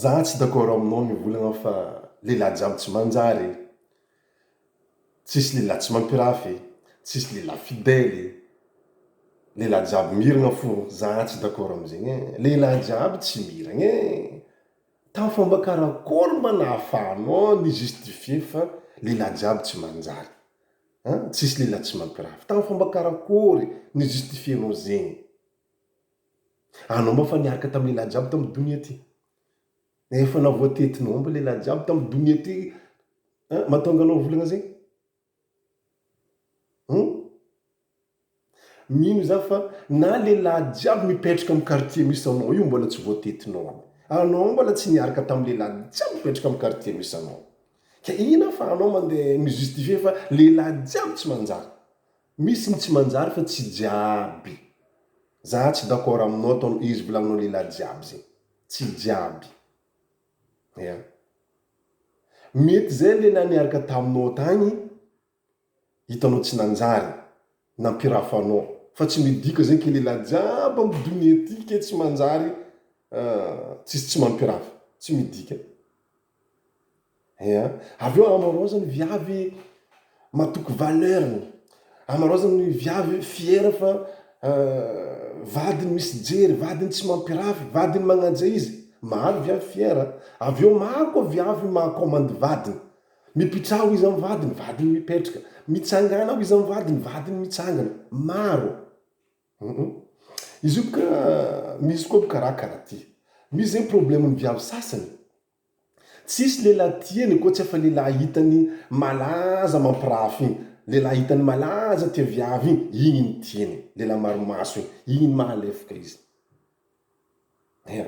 Zah tsy d'accord aminao ny volana fa lehilahy jiaby tsy manjary e! Tsisy lehilahy tsy mampirafy e! Tsisy lehilahy fidèle e! Lehilahy jiaby miragna fô zah tsy d'accord amin'izegny e! Lehilahy jiaby tsy miragna e! Tamin'ny fomba karakôry mba nahafahanao ni justifier fa lehilahy jiaby tsy manjary an! Tsisy lehilahy tsy mampirafy, tamin'ny fomba karakôry ni justifier-nao zegny? Anao moa efa niaraka tamin'ny lehilahy jiaby tamin'ny donia ty. Efa navoatetinao aby lehilahy jiaby tamin'ny donia ty. An, mahatonga anao volana zay? Hum? Mino za fa na lehilahy jiaby mipetraka amin'ny quartier misy anao io mbola tsy voatetinao aby. Anao mbola tsy niaraka tamin'ny lehilahy jiaby mipetraka amin'ny quartier misy anao. Ka inona fa anao mandeha mi-justifier fa lehilahy jiaby tsy manjary. Misy ny tsy manjary fa tsy jiaby. Zah tsy d'accord aminao ataonao izy volagninao lehilahy jiaby zegny. Tsy jiaby. Ya. Mety zay lehilahy niaraka taminao tagny hitanao tsy nanjary. Nampirafanao. Fa tsy midika zegny ke lehilahy jiaby am donia ty ke tsy manjary tsisy tsy mampirafa. Tsy midika. Eeh an! Avy eo amaraozany ny viavy matoky valeur-ny, amaraozany ny viavy fier fa vadiny misy fijery, vadiny tsy mampirafy, vadiny magnaja izy, maro ny viavy fier an! Avy eo maro koa viavy maha commande vadiny, mipitraha ho izy amin'ny vadiny, vadiny mipetraka, mitsangàna ho izy amin'ny vadiny, vadiny mitsangana, maro. Humm. Izy io bka misy koa bka raha karaha ty. Misy zegny problème ny viavy sasany. Tsisy lehilahy tiany koa tsy afa lehilahy hitany malaza mampirafy igny. Lehilahy hitany malaza tia viavy igny, igny no tiany. Lehilahy maro maso igny. Igny no mahalefaka izy. Ea.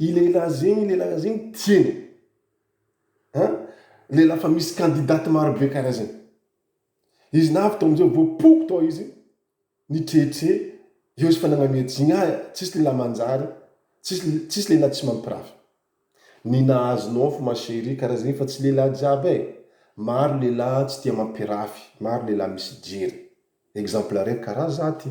Iny lehilahy zegny iny lehilahy zegny tiany a lehilahy fa misy candidate maro be karaha zegny izy navy tao amizay voapoko tao izy nitrehitre eo izy fa nagnamia jigny ah tsisy lehilahy manjary tsisy tsisy lehilahy tsy mampirafy ny nahazo nao fo ma cherie karaha zegny fa tsy lehilahy jiaby eh maro lehilahy tsy tia mampirafy maro lehilahy misy jery exemple raiky karaha za ty.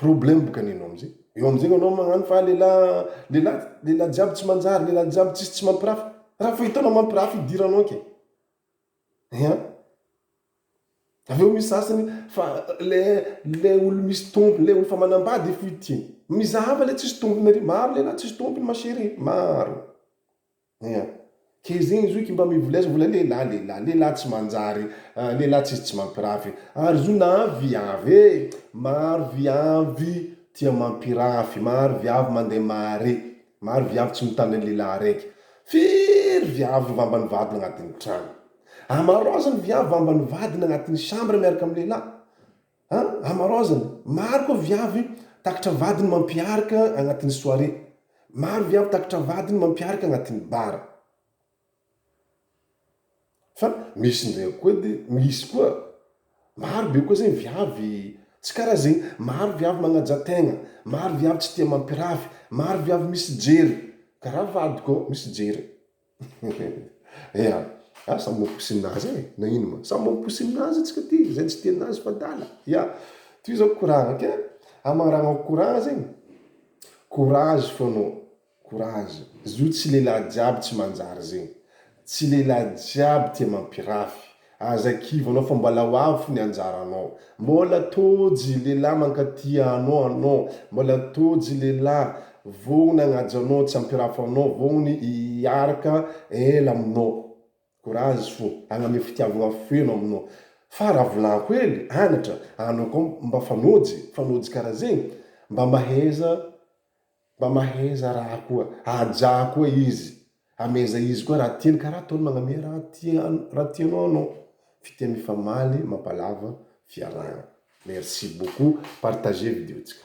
Problème boka ny anao amzay, eo amzay anao magnano fa lelah lelah lelah jiaby tsy manjary lelah jiaby tsisy tsy mampirafy, raha fa hitanao mampirafy idiranao ke eeh an! avy eo misy sasany fa le le olo misy tompony le olo fa manambady fohy ty, mizaha fa le tsisy tompony ary, maro lelah tsisy tompony ma chérie maro. Ia. Ke zegny izy io ke mba mivolia azy mbola lehilahy lehilahy lehilahy tsy manjary a lehilahy tsisy tsy mampirafy ary izy io na viavy e maro viavy tia mampirafy maro viavy mandeha mahare maro viavy tsy mitandrina ny lehilahy araiky firy viavy vambany vadiny agnatin'ny tragno amarozany viavy vambany vadiny agnatin'ny chambre miaraka amin'ny lehilahy An! Amaraozina! Maro koa viavy takitra vadiny mampiarka agnatin'ny soirée. Maro viavy takitra vadiny mampiarka agnatin'ny bar. Fa misy ndraiky koa de misy koa, maro be koa zegny viavy tsy karaha zegny. Maro viavy magnaja tegna, maro viavy tsy tia mampirafy, maro viavy misy jery karaha vadiko ao misy jery. Ea! Ah samy mamposinina azy e! Na ino ma! Samy mamposinina azy antsika aty, izay tsy tia anazy fa adala! Ya! Toy izao courage ok! Hamangarahagna courage zegny, courage fô anao, courage! Izy io tsy lehilahy jiaby tsy manjary zegny, tsy lehilahy jiaby tia mampirafy, Aza kivy anao fa mbola ho avy ny anjaranao. Mbola Tojo lehilahy mankaty anao anao. Mbola Tojo lehilahy voa nagnaja anao tsy ampirafy anao vao ny hiaraka ela aminao. Courage fo hagname fitiavagna feno aminao. Fa raha volagno hely anatra anao koa mba fanojy fanojy karaha zegny mba mahaiza Mba maheza raha koa ajà koa izy ameza izy koa raha tiany ka raha ataony magname raha tiany raha tianao anao fitia mifamaly mampalava fiarahana merci beaucoup partager video tsika.